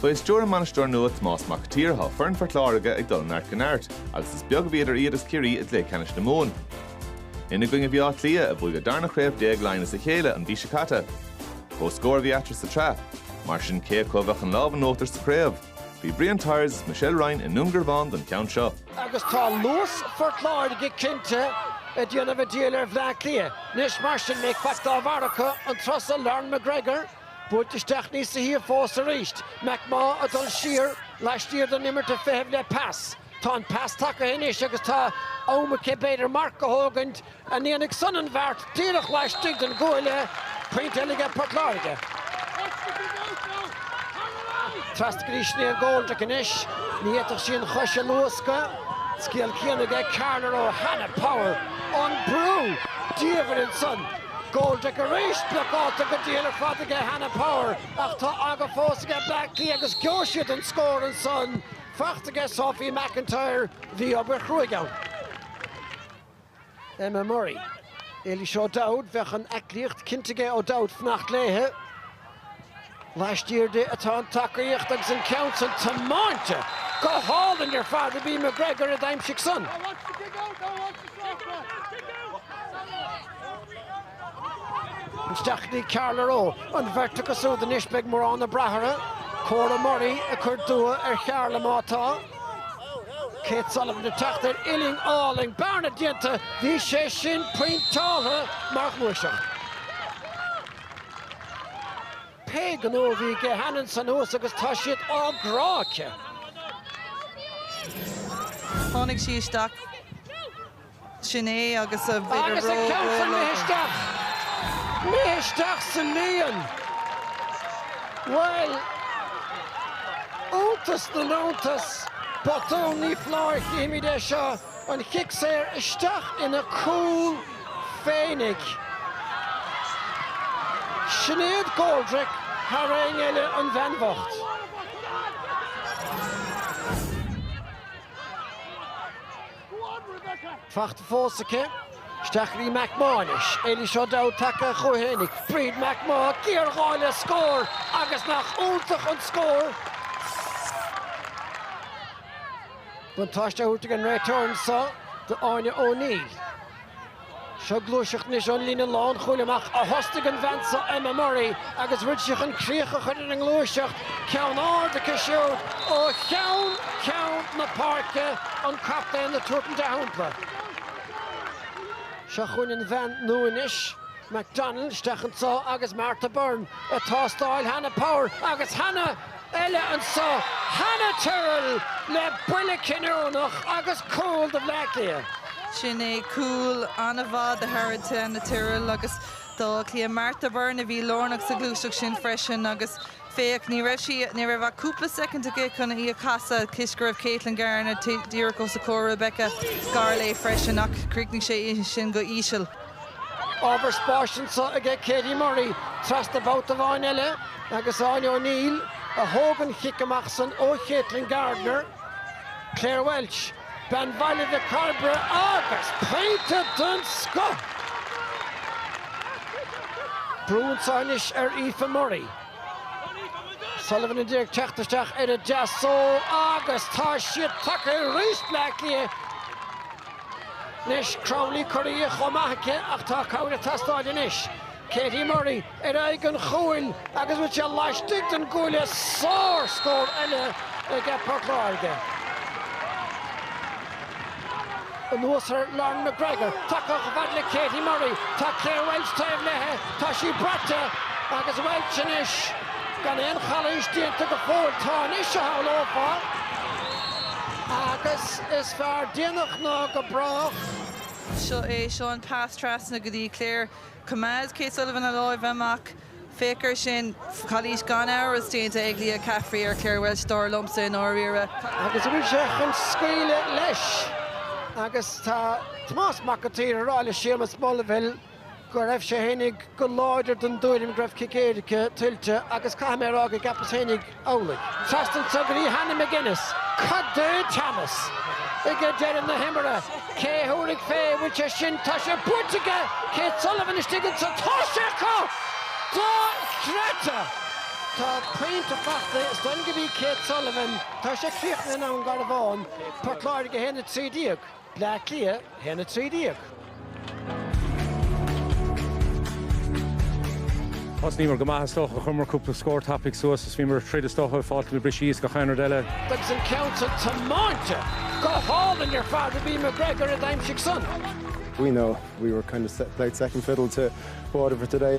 Fé stiúir a mbainisteoir nua Tomás Mac an tSaoir thá foireann Phort Láirge ag dul ó neart go neart agus is beag a bhí idir iad is Ciarraí i gcluiche ceannais na Mumhan. Ina gcoinne a bhí Áth Cliath, a bhuaigh a darna chraobh déag Laighean as a chéile an mhí seo caite. Comhscór a bhí eatarthu sa tsraith, mar sin cé acu a bheadh an lámh in uachtar sa chraobh? Bhí Brian Tyers is Michelle Ryan i nDúngarbhán don cheann seo. Agus tá luas Phort Láirge cinnte ag déanamh an diabhail ar Bhleá Cliath. Anois mar sin an mbeidh faic dá bharr acu an turas so Lauren McGregor buailte isteach níos a shuíomh fós arís. McMaugh ag dul siar laistiar den imirt ag feitheamh le pas. Tá an pas tagaithe anois agus tá am aici b'fhéidir marc a thógaint. an ndéanfaidh san an bheart díreach laistigh den gcuaille pointe eile aige Port Láirge. Trasna go dtí Sinéad Goldrick anois, ní fhéadfadh sí an chois a luascadh. Scéal céanna aige Carla Rowe Hannah Power. An brú! Diamhair ansan. Goldrick arís, blocáilte go diail ar fad aige Hannah Power ach tá aga fós aige Bleá Cliath agus gheobhaidh siad an scór ansan. Fachta aige Sophie McIntyre. Bhí obair chruaidh ann. Emma Murray. Eilís O'Dowd, bheadh an aiclíocht cinnte aige O'Dowd fanacht léithe. Laistiar di atá an tacaíocht agus an ceann san tiomáinte go hálainn ar fad ab í McGregor a d'aimsigh san. Isteach dtí Carla Rowe an bheirt acu súd anois beidh mórán ag brath orthu. Cora Murray ag cur dua ar Charla má tá. Kate Sullivan ag teacht ar uillinn álainn. Bearna déanta. Bhí sé sin pointeálta mar ghluaiseacht. Pé gnó a bhí aige Hannah ansan thuas agus tá siad á gcrá aici. Tháinig sí isteach Sin é agus a bhfuil ar Agus ag ceann san ró-ról agam. isteach, imithe isteach sa líon. Bhuel, iontas na n-iontas, botún ní foláir chífimid é seo, an chic saor isteach ina cúl féinig. Sinéad Goldrick thar éinne eile an bhean bhocht. fachta fós aici. Isteach dtí McMaugh anois, Eilís O'Dowd tagtha chuici féinig, Bríd McMaugh, géarghá le scór agus nach iontach an scór! Buntáiste á thabhairt ag an réiteoir anso d'Áine O'Neill. Seo gluaiseacht anois ón líne lánchúil amach a thosnaigh an bhean seo Emma Murray agus bhfuil sí chun críoch a chur ar an ngluaiseacht, ceann ard aici siúd ó cheann ceann na páirce, an captaen ag tabhairt an dea-shampla. Seo chugainn an bhean nua anois, McDonnell isteach anseo agus Martha Byrne ag tástáil Hannah Power agus Hannah eile anso, Hannah Tyrrell le buille cinniúnach agus cúl do Bhleá Cliath. Sin é cúl an-mhaith do Harriet Hannah Tyrrell agus d'Áth Cliath. Martha Byrne a bhí lárnach sa ghluaiseacht sin freisin agus féach, ní raibh sí, ní raibh ach cúpla soicind aici chun í a chasadh toisc go raibh Katelyn Gardner díreach os a comhair. Rebecca gar léi freisin ach chríochnaigh sé sin go híseal. Ábhar spáis anseo aige Katie Murray trasna babhta amháin eile agus Áine O'Neill a thóg an cic amach san ó Katelyn Gardner. Clare Walsh, bean Bhaile Mhic Cairbre agus pointe den scoth! Brú anseo anois ar Aoife Murray. Sullivan a d'iarraidh teacht isteach ar a deasóg agus tá siad tagtha arís Bleá Cliath. Anois, Crowley curtha chomh maith aici ach tá cabhair ag teastáil anois. Katie Murray ar aghaidh an chúil agus bhfuil sé laistigh den gcuaille sár scór eile aige Port Láirge. Anuas ar Lauren McGregor, tagtha chomh fad le Katie Murray, tá Clare Walsh taobh léithe, tá sí braite agus Walsh anois gan aon chalaois déanta go fóill, tá anois a shamhlófá agus. Is fearr déanach ná go brách. Seo é, seo an pas trasna go dtí Clare. Choimeád Kate Sullivan a láimh amach. Féach ar sin. Calaois gan amhras déanta ag Leah Caffrey ar Clare Walsh, dar liomsa i ndáiríre. Agus bhfuil sé chun scaoileadh leis agus tá Tomás Mac an tSaoir ag rá le Séamus Mulvihill, go raibh sé féinig go láidir den dtuairim go raibh cic éirice tuillte agus caithfidh mé a rá go gceapas féinig amhlaidh. Trasna anso go dtí Hannah McGinnis, cad é teannas aige deireadh na himeartha? Cé a thabharfaidh fé? Bhfuil sé sin? Tá sé buailte aige Kate Sullivan istigh anseo? Tá sé acu! Dochreidte! Tá pointe fachta is dóigh liom gurb í Kate Sullivan. Tá sé críochnaithe i nDún Garbhán. Port Láirge 1 13. Bleá Cliath, 1 13. Thosnaíomar go maith is dócha, chuireamar cúpla scór tapaidh suas is bhíomar ag troid is dócha, fáilt na brisí is gach aon rud eile. Agus an ceann san tiomáinte go hálainn ar fad ab í McGregor a d'aimsigh san. We know we were kind of played second fiddle to Waterford today.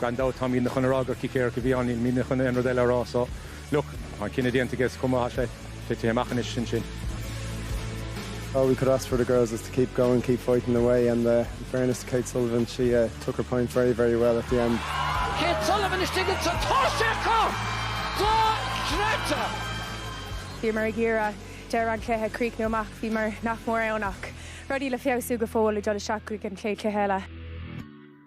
Gan dabht táimid chun a rá gur cic éirice a bhí ann, níl mé chun aon rud eile a rá so look, tá an cinneadh déanta aige is cuma, tá sé tite amach anois ansin. All we could ask for the girls was to keep going, keep fighting away and uh in fairness to Kate Sullivan she uh took her point very, very well at the end. Kate Sullivan istigh ins an toise acu! Go Greta! Bhíomar ag iarraidh deireadh an chluiche críochnú amach, bhíomar nach mór ann ach rudaí le feabhsú go fóill ag dul isteach chuig an chéad chluiche eile.